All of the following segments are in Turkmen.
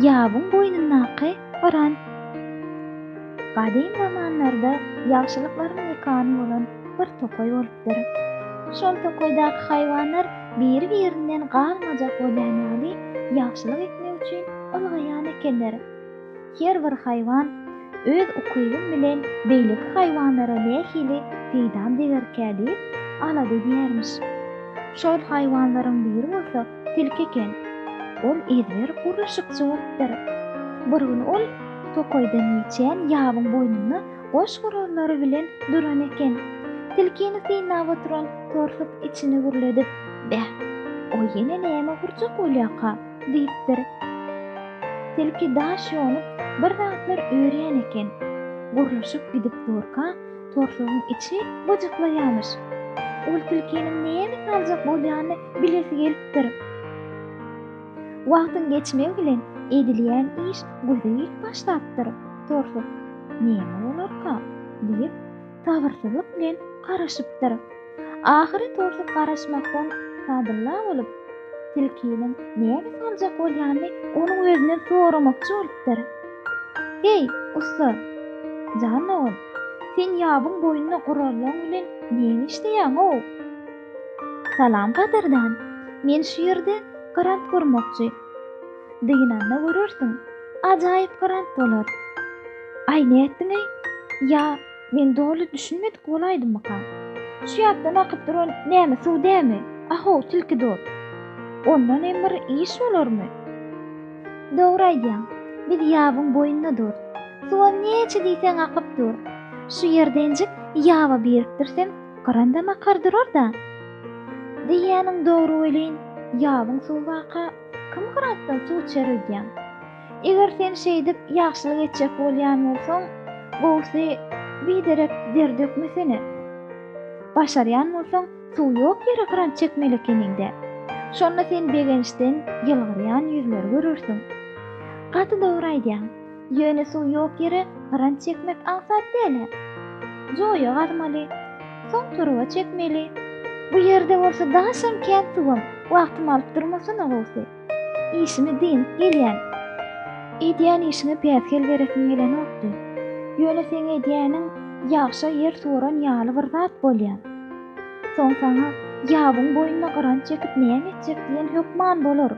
Ýabyň boýnundaky gyran. Gadym zamanlarda ýagşylyklaryň mekany bolan bir tokaý bolupdyr. Şol tokaýdaky haýwanlar biri-birinden galmajak bolýan ýaly ýagşylyk etmek üçin ylgaýan ekenler. Her bir haýwan öz ukybym bilen beýleki haýwanlara nähili peýdam degerkä diýip alada edýärmiş. Şol haýwanlaryň biri bolsa tilki eken. Ol ezber gurluşykçy bolupdyr. Bir gün ol tokaýdan geçýän ýabyň boýnunda goş gurallary bilen duran eken. Tilkini synlap oturan torsuk içini gürledip, Beh, o ýene näme gurjak bolýaka? diýipdir. Tilki daş ýonup, bir zatlar örýän eken. Gurluşyp gidip durka, torsugyň içi gyjyklaýarmyş. Ol tilkiniň näme saljak bolýanyny bilesi gelipdir. Wagtyň geçmegi bilen edilýän iş gözeýik başlapdyr. Torsuk, Näme bolarka? diýip, sabyrsyzlyk bilen garaşypdyr. Ahyry torsup garaşmakdan Sadylla bolup, tilkiniň näme saljak bolýanyny onuň özünden soramakçy bolupdyr. Heý, ussa! Jan dogan, sen ýabyň boýunda gurallaň bilen näme işleýäň-ow? Salam gadyrdan, men şu ýerde grant gurmakçy. Dynanda görersiň, ajaýyp grant bolar. Aý, nätdiň-eý? Ýa, Men doly düşünmedik bolaýdymyka? Şu ýatdan akyp duran näme suw dämi? A-how, tilki dost! Ondan hem bir iş bolarmy? Dogry aýdýaň. Biz ýabyň boýunda durus. Suwam näçe diýseň akyp dur. Şu ýerde enjik ýaba birikdirsem, gyrandam akar durar-da. Diýýäniň dogry welin, ýabyň suwy baka, kim gyrantdan suw içer öýdýäň? Eger sen şeýdip ýagşylyk etjek bolýan bolsaň, gowusy biderek der dökmesene. Başarýan bolsaň, suw ýok ýere kran çekmeli ekeniň-dä. Şonda sen begençden ýylgyrýan ýüzleri görersiň. Gaty dogry aýdýaň. Ýöne suw ýok ýere kran çekmek aňsat däl-ä. Joýa gazmaly. Soň turba çekmeli. Bu ýerde bolsa daşam kän suwam, wagtym alyp durmasana gowusy. Işimi dynip gelýän. Edýän işiňe päsgel beresiň gelenokdy. Ýöne seň edýäniň ýagşa ýer suwaran ýaly bir zat bolýar. Soň saňa ýabyň boýnuna gyranç çekip näme etjek diýen hökman bolar.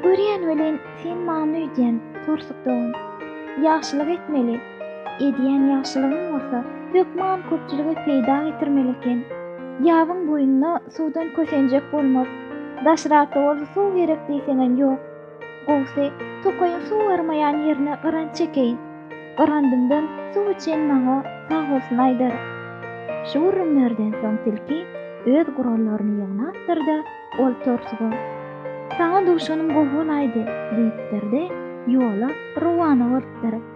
Görýän welin, sen many öýdýän, Porsuk dogan. Ýagşylyk etmeli, Edýän ýagşylygyň bolsa hökman köpçülige peýda getirmeli eken. Ýabyň boýunda suwdan kösenjek bolmaz. Daşrakda bolsa suw gerek diýseňem ýok. Gowusy, tokaýyň suw barmaýan ýerine gyranç çekeýin. Gyrandymdan suw içen maňa sag bolsun aýdar. Şu gürrüňlerden soň tilki öz gurallaryny ýygnapdyr-da, ol torsuga, Saňa duşanym gowy bolaýdy, diýipdir-de, ýola rowana bolupdyr.